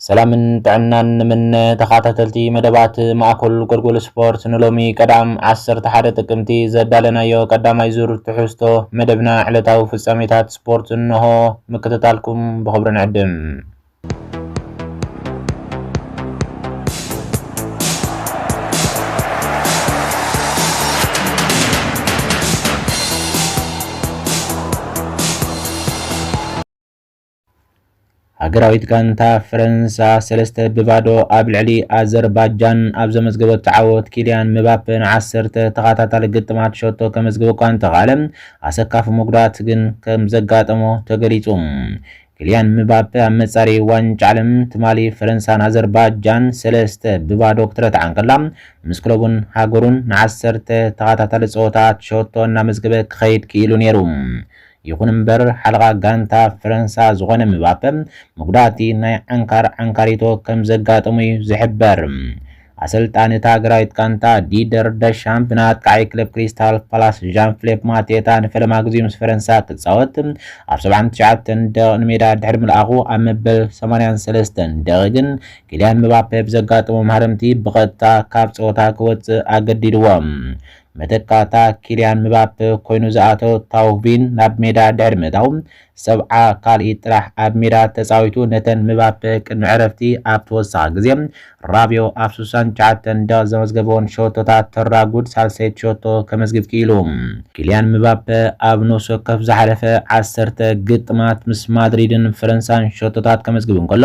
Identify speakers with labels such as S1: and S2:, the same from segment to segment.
S1: ሰላምን ጥዕናን ንምነ ተኻታተልቲ መደባት ማእኮል ጎልጎል ስፖርት ንሎሚ ቀዳም ዓሰርተ ሓደ ጥቅምቲ ዘዳለናዮ ቀዳማይ ዙር ትሕዝቶ መደብና ዕለታዊ ፍጻሜታት ስፖርት እነሆ ምክትታልኩም ብኽብሪ ንዕድም። ሃገራዊት ጋንታ ፈረንሳ ሰለስተ ብባዶ ኣብ ልዕሊ ኣዘርባጃን ኣብ ዘመዝገበቶ ዓወት ኪልያን ምባፔ ንዓሰርተ ተኸታታሊ ግጥማት ሸቶ ከመዝግብ እኳ እንተኽኣለ ኣሰካፊ መጉዳእቲ ግን ከም ዘጋጠሞ ተገሊጹ። ኪልያን ምባፔ ኣብ መጻሪ ዋንጫ ዓለም ትማሊ ፈረንሳ ንኣዘርባጃን ሰለስተ ብባዶ ክትረትዓ እንከላ ምስ ክለቡን ሃገሩን ንዓሰርተ ተኸታታሊ ጸወታት ሸቶ እናመዝገበ ክኸይድ ክኢሉ ነይሩ። ይኹን እምበር ሓለቓ ጋንታ ፈረንሳ ዝኾነ ምባፐ መጉዳእቲ ናይ ዓንካር ዓንካሪቶ ከምዘጋጠሞ'ዩ ዝሕበር። ኣሰልጣኒ እታ ሃገራዊት ጋንታ ዲደር ደሻም ብንኣጥቃዓይ ክለብ ክሪስታል ፓላስ ዣን ፍሌፕ ማቴታ ንፈለማ ግዜኡ ምስ ፈረንሳ ክጻወት ኣብ ሰብዓን ትሽዓተን ደቂቕ ንሜዳ ድሕሪ ምልኣኹ ኣብ መበል ሰማንያን ሰለስተን ደቒቕ ግን ኪልያን ምባፐ ብዘጋጠሞ ማህረምቲ ብቐጥታ ካብ ጸወታ ክወጽእ ኣገዲድዎ። መተካእታ ኪልያን ምባፐ ኮይኑ ዝኣተወ ታውቪን ናብ ሜዳ ድሕሪ ምእታዉ፣ ሰብዓ ካልኢት ጥራሕ ኣብ ሜዳ ተጻዊቱ ነተን ምባፐ ቅድሚ ዕረፍቲ ኣብ ተወሳኺ ግዜ ራብዮ ኣብ ስሳን ትሽዓተን ደቒቕ ዘመዝገበወን ሸቶታት ተራጉድ ሳልሰይቲ ሸቶ ከመዝግብ ክኢሉ። ኪልያን ምባፐ ኣብ ነፍሲ ወከፍ ዝሓለፈ ዓሰርተ ግጥማት ምስ ማድሪድን ፈረንሳን ሸቶታት ከመዝግብ እንከሎ፣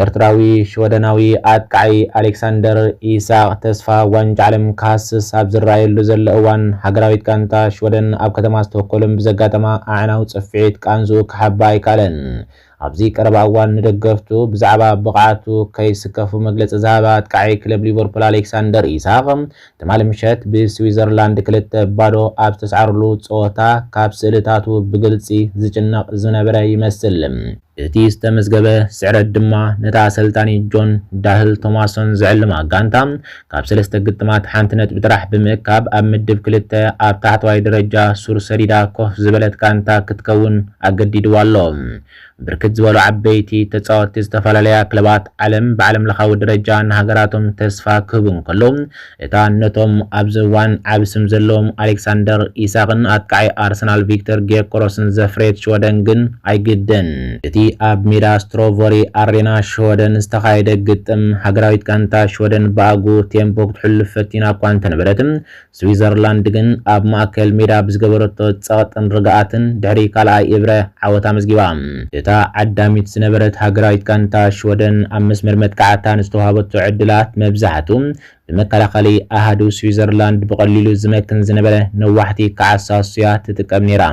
S1: ኤርትራዊ ሽወደናዊ ኣጥቃዓይ ኣሌክሳንደር ኢሳቕ ተስፋ ዋንጫ ዓለም ክሃስስ ኣብ ዝረኣየሉ ዘሎ እዋን፣ ሃገራዊት ጋንታ ሽወደን ኣብ ከተማ ስቶኮልም ብዘጋጠማ ኣዕናዊ ጽፍዒት ቃንዝኡ ክሓብእ ኣይከኣለን። ኣብዚ ቀረባ እዋን ንደገፍቱ ብዛዕባ ብቕዓቱ ከይስከፉ መግለጺ ዝሃበ ኣጥቃዓይ ክለብ ሊቨርፑል ኣሌክሳንደር ኢሳቕ፣ ትማሊ ምሸት ብስዊዘርላንድ ክልተ ባዶ ኣብ ዝተስዓሩሉ ጸወታ ካብ ስእልታቱ ብግልጺ ዝጭነቕ ዝነበረ ይመስል። እቲ ዝተመዝገበ ስዕረት ድማ ነታ ኣሰልጣኒ ጆን ዳህል ቶማሶን ዝዕልማ ጋንታ ካብ ሰለስተ ግጥማት ሓንቲ ነጥቢ ጥራሕ ብምእካብ ኣብ ምድብ ክልተ ኣብ ታሕተዋይ ደረጃ ሱር ሰዲዳ ኮፍ ዝበለት ጋንታ ክትከውን ኣገዲድዋ ኣሎ። ብርክት ዝበሉ ዓበይቲ ተፃወትቲ ዝተፈላለያ ክለባት ዓለም ብዓለምለኻዊ ደረጃ ንሃገራቶም ተስፋ ክህቡ እንከለው፣ እታ ነቶም ኣብዚ እዋን ዓቢ ስም ዘለዎም ኣሌክሳንደር ኢሳክን ኣጥቃዓይ ኣርሰናል ቪክተር ግዮከረስን ዘፍረየት ሽወደን ግን ኣይግድን። እቲ ኣብ ሜዳ ስትሮቨሪ ኣሬና ሽወደን ዝተኻየደ ግጥም፣ ሃገራዊት ጋንታ ሽወደን ብኣግኡ ቴምፖ ክትሕሉ ፈቲና እኳ እንተነበረት፣ ስዊዘርላንድ ግን ኣብ ማእከል ሜዳ ብዝገበረቶ ጸቕጥን ርግኣትን ድሕሪ ካልኣይ እብረ ዓወት ኣመዝጊባ። እታ ዓዳሚት ዝነበረት ሃገራዊት ጋንታ ሽወደን ኣብ መስመር መጥቃዕታ ንዝተዋህበቶ ዕድላት መብዛሕቱ ብመከላኸሊ ኣሃዱ ስዊዘርላንድ ብቐሊሉ ዝመክን ዝነበረ ነዋሕቲ ክዓሳሱ'ያ ትጥቀም ነይራ።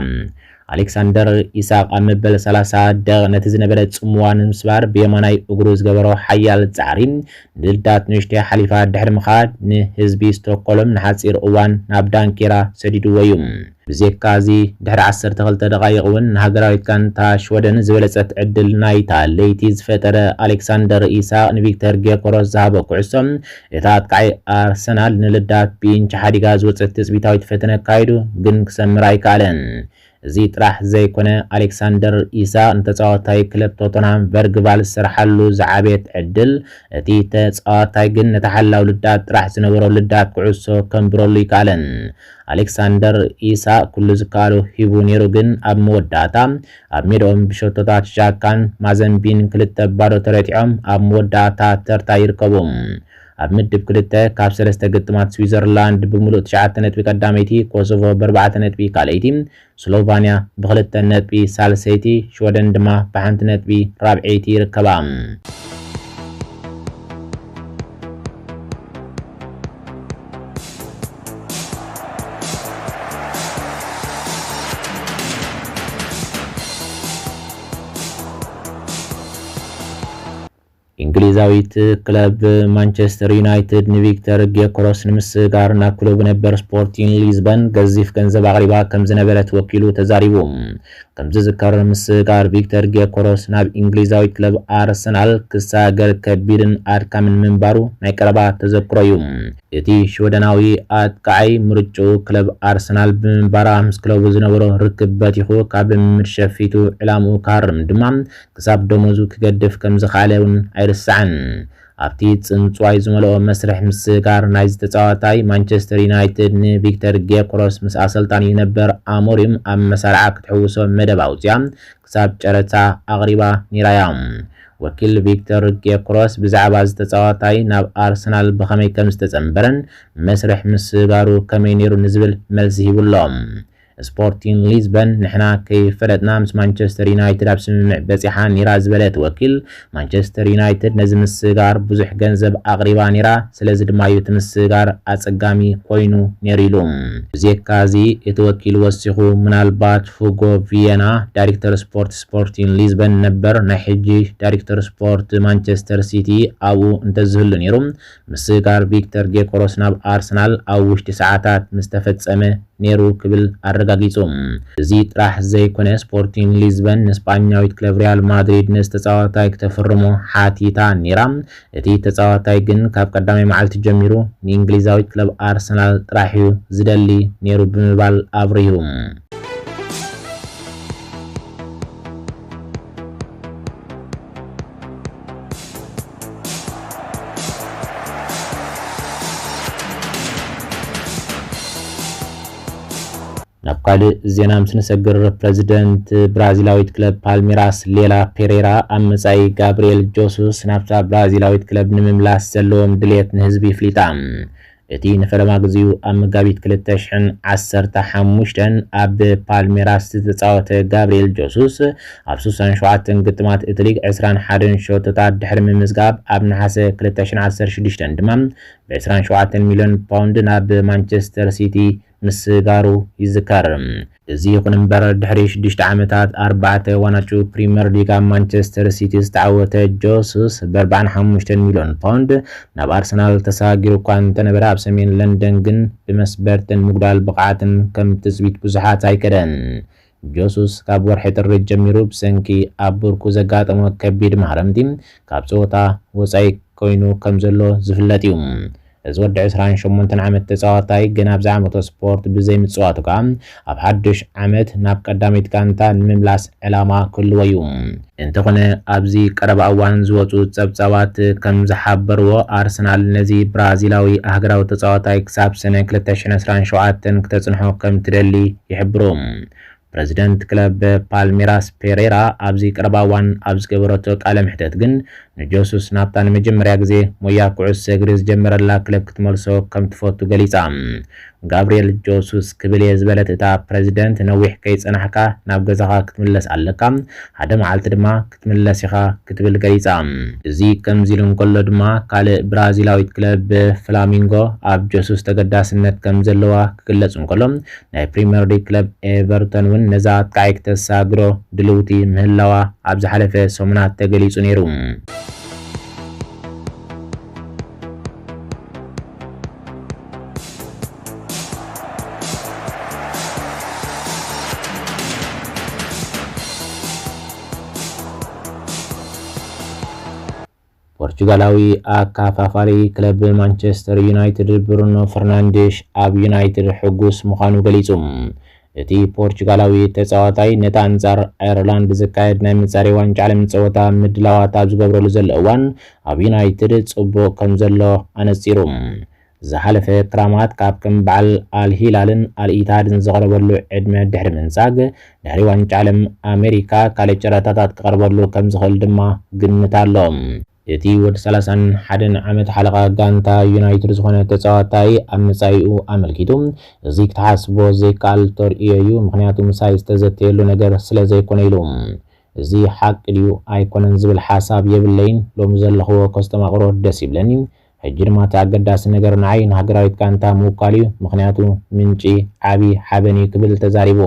S1: ኣሌክሳንደር ኢሳቕ ኣብ መበል ሰላሳ ደቕ ነቲ ዝነበረ ጽምዋ ንምስባር ብየማናይ እግሩ ዝገበሮ ሓያል ጻዕሪ ልዳት ንእሽተይ ሓሊፋ ድሕሪ ምኻድ ንህዝቢ ስቶኮልም ንሓጺር እዋን ናብ ዳንኪራ ሰዲድዎ እዩ። ብዜካ እዚ ድሕሪ ዓሰርተ ክልተ ደቓይቕ እውን ንሃገራዊት ጋንታ ሽወደን ዝበለጸት ዕድል ናይታ ለይቲ ዝፈጠረ ኣሌክሳንደር ኢሳቕ ንቪክተር ጌዮኮረስ ዝሃቦ ኩዕሶ እታ ኣጥቃዒ ኣርሰናል ንልዳት ብኢንች ሓዲጋ ዝወጸት ትጽቢታዊት ፈተነ ኣካይዱ ግን ክሰምር ኣይከኣለን። እዚ ጥራሕ ዘይኮነ ኣሌክሳንደር ኢሳቕ ንተጻዋታይ ክለብ ቶተንሃም ቨርግቫል ዝሰርሓሉ ዝዓበየት ዕድል፣ እቲ ተጻዋታይ ግን ንተሓላው ልዳት ጥራሕ ዝነበሮ ልዳት ኩዕሶ ከንብረሉ ኣይከኣለን። ኣሌክሳንደር ኢሳቕ ኩሉ ዝከኣሎ ሂቡ ነይሩ ግን ኣብ መወዳእታ ኣብ ሜድኦም ብሸቶታት ዣካን ማዘምቢን ክልተ ባዶ ተረቲዖም ኣብ መወዳእታ ተርታ ይርከቡ። ኣብ ምድብ ክልተ ካብ ሰለስተ ግጥማት ስዊዘርላንድ ብምሉእ ትሽዓተ ነጥቢ ቀዳመይቲ፣ ኮሶቮ ብኣርባዕተ ነጥቢ ካልኣይቲ፣ ስሎቫንያ ብኽልተ ነጥቢ ሳልሰይቲ፣ ሽወደን ድማ ብሓንቲ ነጥቢ ራብዐይቲ ይርከባ። እንግሊዛዊት ክለብ ማንቸስተር ዩናይትድ ንቪክተር ጌዮኮረስ ንምስግጋር ናብ ክለቡ ነበር ስፖርቲን ሊዝበን ገዚፍ ገንዘብ ኣቕሪባ ከምዝነበረት ወኪሉ ተዛሪቡ። ከምዝዝከር ምስግጋር ቪክተር ጌዮኮረስ ናብ እንግሊዛዊት ክለብ ኣርሰናል ክሰጋገር ከቢድን ኣድካምን ምንባሩ ናይ ቀረባ ተዘክሮ'ዩ። እቲ ሽወደናዊ ኣጥቃዓይ ምርጭኡ ክለብ ኣርሰናል ብምንባራ ምስ ክለቡ ዝነበሮ ርክብ በቲኹ ካብ ልምምድ ሸፊቱ ዕላምኡ ክሃርም ድማ ክሳብ ደሞዙ ክገድፍ ከምዝኸኣለ እውን ኣይርሳዕን። ኣብቲ ጽንጽዋይ ዝመልኦ መስርሕ ምስግጋር ናይዚ ተጻዋታይ፣ ማንቸስተር ዩናይትድ ንቪክተር ጌዮክሮስ ምስ ኣሰልጣኒኡ ነበር ኣሞሪም ኣብ መሳርዓ ክትሕውሶ መደብ ኣውጺኣ ክሳብ ጨረታ ኣቕሪባ ነይራ እያ። ወኪል ቪክተር ጌዮክሮስ ብዛዕባ እዚ ተጻዋታይ ናብ ኣርሰናል ብኸመይ ከምዝተጸንበረን መስርሕ ምስግጋሩ ከመይ ነይሩ ንዝብል መልሲ ሂቡ ኣሎ። ስፖርቲንግ ሊዝበን ንሕና ከይፈለጥና ምስ ማንቸስተር ዩናይትድ ኣብ ስምምዕ በጺሓ ኔራ ዝበለ እቲ ወኪል፣ ማንቸስተር ዩናይትድ ነዚ ምስግጋር ብዙሕ ገንዘብ ኣቕሪባ ኔራ፣ ስለዚ ድማ'ዩ እቲ ምስግጋር ኣጸጋሚ ኮይኑ ኔሩ ኢሉ። ብዜካ'ዚ እቲ ወኪል ወሲኹ፣ ምናልባት ሁጎ ቪየና፣ ዳሪክተር ስፖርት ስፖርቲንግ ሊዝበን ነበር፣ ናይ ሕጂ ዳሪክተር ስፖርት ማንቸስተር ሲቲ ኣብኡ እንተዝህሉ ኔሩ፣ ምስጋር ቪክተር ጌኮረስ ናብ ኣርሰናል ኣብ ውሽጢ ሰዓታት ምስተፈጸመ ነይሩ ክብል ኣረጋጊጹ። እዚ ጥራሕ ዘይኮነ ስፖርቲንግ ሊዝበን ንስጳኛዊት ክለብ ሪያል ማድሪድ ነዚ ተጻዋታይ ክተፍርሞ ሓቲታ ነይራ። እቲ ተጻዋታይ ግን ካብ ቀዳማይ መዓልቲ ጀሚሩ ንእንግሊዛዊት ክለብ ኣርሰናል ጥራሕ'ዩ ዝደሊ ነይሩ ብምባል ኣብሪሁ። ናብ ካልእ ዜና ምስ ንሰግር ፕረዚደንት ብራዚላዊት ክለብ ፓልሜራስ ሌላ ፔሬራ ኣብ መጻኢ ጋብርኤል ጆሱስ ናብታ ብራዚላዊት ክለብ ንምምላስ ዘለዎም ድሌት ንህዝቢ ይፍሊጣ እቲ ንፈለማ ግዜኡ ኣብ መጋቢት ክልተ ሽሕን ዓሰርተ ሓሙሽተን ኣብ ፓልሜራስ ዝተጻወተ ጋብሪኤል ጀሱስ፣ ኣብ ሱሳን ሸውዓተን ግጥማት እቲ ሊግ ዕስራን ሓደን ሸቶታት ድሕሪ ምምዝጋብ፣ ኣብ ነሓሰ ክልተ ሽሕን ዓሰርተ ሽዱሽተን ድማ ብዕስራን ሸውዓተን ሚልዮን ፓውንድ ናብ ማንቸስተር ሲቲ ምስጋሩ ይዝከር። እዚ ይኹን እምበር ድሕሪ ሽዱሽተ ዓመታት ኣርባዕተ ዋናጩ ፕሪመር ሊግ ኣብ ማንቸስተር ሲቲ ዝተዓወተ ጆሱስ ብኣርባዓን ሓሙሽተን ሚልዮን ፓውንድ ናብ ኣርሰናል ተሰጋጊሩ እኳ እንተነበረ ኣብ ሰሜን ለንደን ግን ብመስበርትን ምጉዳል ብቕዓትን ከም ትጽቢት ብዙሓት ኣይከደን ጆሱስ ካብ ወርሒ ጥሪ ጀሚሩ ብሰንኪ ኣብ ብርኩ ዘጋጠሞ ከቢድ ማህረምቲ ካብ ጸወታ ወጻኢ ኮይኑ ከምዘሎ ዝፍለጥ'ዩ። እዚ ወዲ ዕስራን ሸሞንተን ዓመት ተጻዋታይ ገና ኣብዚ ዓመቶ ስፖርት ብዘይምጽዋቱ ከኣ ኣብ ሓዱሽ ዓመት ናብ ቀዳመይቲ ጋንታ ንምምላስ ዕላማ ክህልዎ'ዩ። እንተኾነ ኣብዚ ቀረባ እዋን ዝወጹ ጸብጻባት ከም ዝሓበርዎ ኣርሰናል ነዚ ብራዚላዊ ኣህግራዊ ተጻዋታይ ክሳብ ሰነ ክልተ ሽሕን ዕስራን ሸውዓተን ክተጽንሖ ከም ትደሊ ይሕብሩ። ፕረዚደንት ክለብ ፓልሜራስ ፔሬራ ኣብዚ ቀረባ እዋን ኣብ ዝገበረቶ ቃለ መሕተት ግን ንጀሱስ ናብታ ንመጀመርያ ግዜ ሞያ ኩዕሶ እግሪ ዝጀመረላ ክለብ ክትመልሶ ከም ትፈቱ ገሊጻ። ጋብርኤል ጆሱስ ክብል እየ ዝበለት እታ ፕረዚደንት። ነዊሕ ከይጸናሕካ ናብ ገዛኻ ክትምለስ ኣለካ፣ ሓደ መዓልቲ ድማ ክትምለስ ኢኻ ክትብል ገሊጻ። እዚ ከምዚ ኢሉ እንከሎ ድማ ካልእ ብራዚላዊት ክለብ ፍላሚንጎ ኣብ ጆሱስ ተገዳስነት ከም ዘለዋ ክግለጽ እንከሎ ናይ ፕሪመር ሊግ ክለብ ኤቨርቶን እውን ነዛ ኣጥቃዒ ክተሳግሮ ድልውቲ ምህላዋ ኣብ ዝሓለፈ ሰሙናት ተገሊጹ ነይሩ። ፖርቹጋላዊ ኣካፋፋሪ ክለብ ማንቸስተር ዩናይትድ ብሩኖ ፈርናንዴሽ ኣብ ዩናይትድ ሕጉስ ምዃኑ ገሊጹ። እቲ ፖርቹጋላዊ ተጻዋታይ ነቲ ኣንጻር ኣየርላንድ ዝካየድ ናይ መጻረዪ ዋንጫ ዓለም ጸወታ ምድላዋት ኣብ ዝገብረሉ ዘሎ እዋን ኣብ ዩናይትድ ጽቡቕ ከምዘሎ ኣነጺሩ። ዝሓለፈ ክራማት ካብ ከም በዓል ኣል ሂላልን ኣል ኢትሃድን ዝቐረበሉ ዕድመ ድሕሪ ምንጻግ፣ ድሕሪ ዋንጫ ዓለም ኣመሪካ ካልእ ጨረታታት ክቐርበሉ ከምዝኽእል ድማ ግምት ኣሎ። እቲ ወዲ ሰላሳን ሓደን ዓመት ሓለቓ ጋንታ ዩናይትድ ዝኾነ ተጻዋታይ ኣብ መጻኢኡ ኣመልኪቱ፣ እዚ ክትሓስቦ ዘይከኣል ተርእዮ'ዩ፣ ምኽንያቱ ምሳይ ዝተዘተየሉ ነገር ስለዘይኮነ ኢሉ። እዚ ሓቂ ድዩ ኣይኮነን ዝብል ሓሳብ የብለይን፣ ሎሚ ዘለኽዎ ከስተማቕሮ ደስ ይብለኒ፣ ሕጂ ድማ እቲ ኣገዳሲ ነገር ንዓይ ንሃገራዊት ጋንታ ምውካል እዩ፣ ምኽንያቱ ምንጪ ዓቢ ሓበን እዩ ክብል ተዛሪቡ።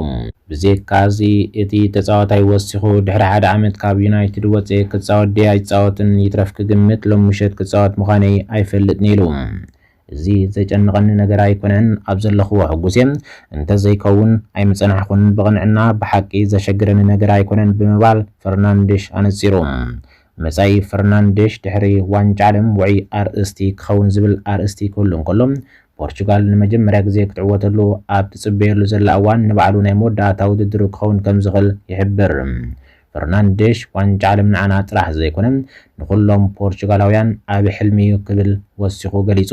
S1: ብዜካ'ዚ እቲ ተጻዋታይ ወሲኹ ድሕሪ ሓደ ዓመት ካብ ዩናይትድ ወጺኤ ክጻወት ድየ ኣይጻወትን ይትረፍ ክግምት ሎም ምሸት ክጻወት ምዃነይ ኣይፈልጥን'የ ኢሉ። እዚ ዘጨንቐኒ ነገር ኣይኮነን፣ ኣብ ዘለኹዎ ሕጉስ'የ፣ እንተዘይከውን ኣይምጸናሕኹን፣ ብቕንዕና ብሓቂ ዘሸግረኒ ነገር ኣይኮነን ብምባል ፈርናንድሽ ኣነጺሩ። መጻኢ ፈርናንደሽ ድሕሪ ዋንጫ ዓለም ውዑይ ኣርእስቲ ክኸውን ዝብል ኣርእስቲ ክህሉ እንከሎ፣ ፖርቹጋል ንመጀመርያ ግዜ ክትዕወተሉ ኣብ ትጽበየሉ ዘላ እዋን ንባዕሉ ናይ መወዳእታ ውድድሩ ክኸውን ከም ዝኽእል ይሕብር። ፈርናንደሽ ዋንጫ ዓለም ንዓና ጥራሕ ዘይኮነ ንኹሎም ፖርቹጋላውያን ዓቢ ሕልሚ'ዩ ክብል ወሲኹ ገሊጹ።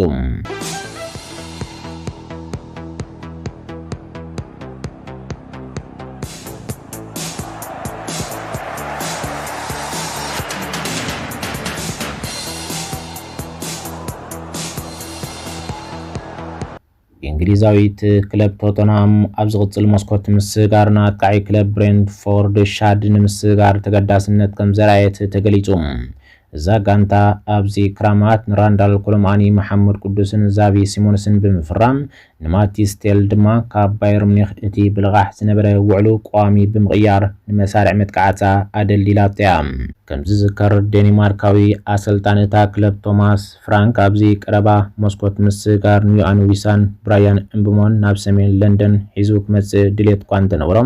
S1: እንግሊዛዊት ክለብ ቶተንሃም ኣብ ዝቕጽል መስኮት ምስጋር ንኣጥቃዒ ክለብ ብሬንትፎርድ ሻድ ንምስጋር ተገዳስነት ከም ዘርኣየት ተገሊጹ። እዛ ጋንታ ኣብዚ ክራማት ንራንዳል ኮሎምኣኒ፣ መሓመድ ቅዱስን ዛቪ ሲሞንስን ብምፍራም ንማቲስ ቴል ድማ ካብ ባየር ሙኒኽ እቲ ብልቓሕ ዝነበረ ውዕሉ ቀዋሚ ብምቕያር ንመሳርዕ መጥቃዕታ ኣደልዲላቶ እያ። ከም ዝዝከር ዴኒማርካዊ ኣሰልጣኒ እታ ክለብ ቶማስ ፍራንክ ኣብዚ ቀረባ መስኮት ምስግጋር ንዮኣን ዊሳን ብራያን እምብሞን ናብ ሰሜን ለንደን ሒዙ ክመጽእ ድሌት እኳ እንተነበሮ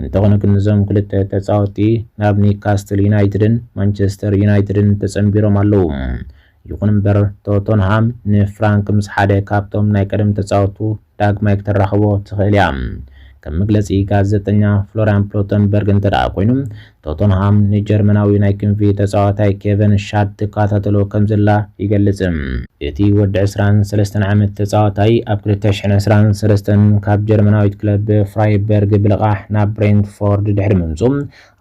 S1: እንተኾነ ግን እዞም ክልተ ተጻወትቲ ናብ ኒውካስትል ዩናይትድን ማንቸስተር ዩናይትድን ተጸንቢሮም ኣለዉ። ይኹን እምበር ቶተንሃም ንፍራንክ ምስ ሓደ ካብቶም ናይ ቀደም ተጻወቱ ዳግማይ ክተራኽቦ ትኽእል እያ። ከም መግለጺ ጋዜጠኛ ፍሎርያን ፕሎተንበርግ እንተደኣ ኮይኑ ቶተንሃም ንጀርመናዊ ናይ ክንፊ ተጻዋታይ ኬቨን ሻድ ትከታተሎ ከምዘላ ይገልጽ። እቲ ወዲ ዕስራን ሰለስተን ዓመት ተጻዋታይ ኣብ ክልተ ሽሕን ዕስራን ሰለስተን ካብ ጀርመናዊት ክለብ ፍራይበርግ ብልቓሕ ናብ ብሬንትፎርድ ድሕሪ ምምጽኡ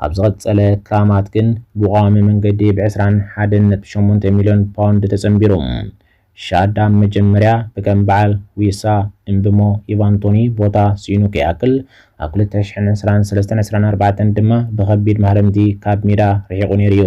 S1: ኣብ ዝቐጸለ ክራማት ግን ብቋዋሚ መንገዲ ብ ዕስራን ሓደን ነጥቢ ሸሞንተ ሚልዮን ፓውንድ ተጸንቢሩ። ሻዳም መጀመርያ ብከም በዓል ዊሳ፣ እምብሞ፣ ኢቫን ቶኒ ቦታ ስኢኑ ከይኣክል ኣብ ክልተ ሽሕን ዕስራን ሰለስተን ዕስራን ኣርባዕተን ድማ ብኸቢድ ማህረምቲ ካብ ሜዳ ርሒቑ ነይሩ እዩ።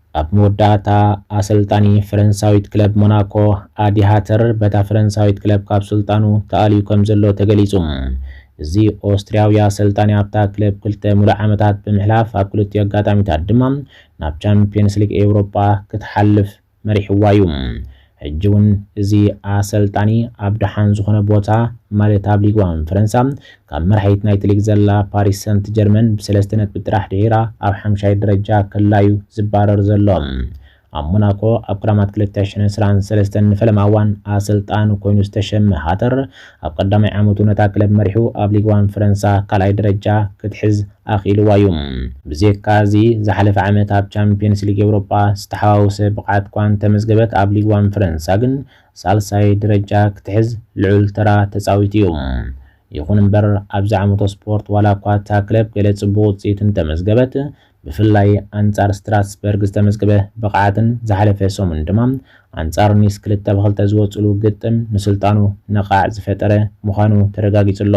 S1: ኣብ መወዳእታ ኣሰልጣኒ ፈረንሳዊት ክለብ ሞናኮ ኣዲ ሃተር በታ ፈረንሳዊት ክለብ ካብ ስልጣኑ ተኣልዩ ከምዘሎ ተገሊጹ። እዚ ኦስትርያዊ ኣሰልጣኒ ኣብታ ክለብ ክልተ ምሉእ ዓመታት ብምሕላፍ ኣብ ክልቲኡ ኣጋጣሚታት ድማ ናብ ቻምፕዮንስ ሊግ ኤውሮጳ ክትሓልፍ መሪሕዋ'ዩ። ሕጂ ውን እዚ ኣሰልጣኒ ኣብ ደሓን ዝኾነ ቦታ ማለት ኣብ ሊግ ዋን ፈረንሳ ካብ መራሒት ናይቲ ሊግ ዘላ ፓሪስ ሰንት ጀርመን ብሰለስተ ነጥቢ ጥራሕ ድሒራ ኣብ ሓምሻይ ደረጃ ከላ ዩ ዝባረር ዘሎ። ኣብ ሞናኮ ኣብ ክራማት ክልተ ሽሕን ዕስራን ሰለስተን ንፈለማ እዋን ኣሰልጣኒ ኮይኑ ዝተሸመ ሃተር ኣብ ቀዳማይ ዓመቱ ነታ ክለብ መሪሑ ኣብ ሊግ ዋን ፈረንሳ ካልኣይ ደረጃ ክትሕዝ ኣኽኢልዋ እዩ። ብዜካ እዚ፣ ዝሓለፈ ዓመት ኣብ ቻምፕዮንስ ሊግ ኤውሮጳ ዝተሓዋወሰ ብቕዓት'ኳ እንተመዝገበት፣ ኣብ ሊግ ዋን ፈረንሳ ግን ሳልሳይ ደረጃ ክትሕዝ ልዑል ተራ ተጻዊቱ እዩ። ይኹን'ምበር፣ ኣብዚ ዓመቶ ስፖርት ዋላ'ኳ እታ ክለብ ገለ ጽቡቕ ውጽኢት እንተመዝገበት፣ ብፍላይ ኣንጻር ስትራስበርግ ዝተመዝገበ ብቕዓትን ዝሓለፈ ሰሙን ድማ ኣንጻር ኒስ ክልተ ብ ክልተ ዝወጽእሉ ግጥም ንስልጣኑ ነቓዕ ዝፈጠረ ምዃኑ ተረጋጊጹ ኣሎ።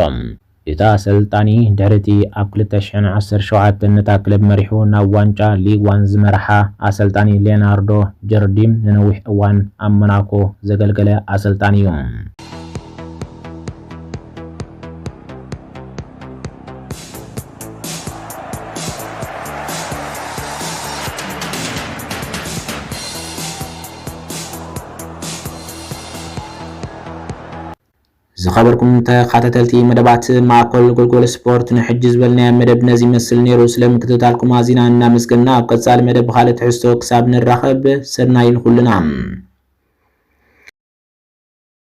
S1: እቲ ኣሰልጣኒ ድሕሪ እቲ ኣብ ክልተ ሽሕን ዓሰርተ ሸውዓተን ነታ ክለብ መሪሑ ናብ ዋንጫ ሊግ ዋን ዝመርሓ ኣሰልጣኒ ሌናርዶ ጀርዲም ንነዊሕ እዋን ኣብ ሞናኮ ዘገልገለ ኣሰልጣኒ እዩ። ዝኸበርኩም ተኸታተልቲ መደባት ማእኮል ጎልጎል ስፖርት ንሕጂ ዝበልናዮ መደብ ነዚ ይመስል ነይሩ። ስለ ምክትታልኩም ኣዚና እናመስገና ኣብ ቀጻሊ መደብ ብኻልእ ትሕዝቶ ክሳብ ንራኸብ ሰናይ ንኹልና።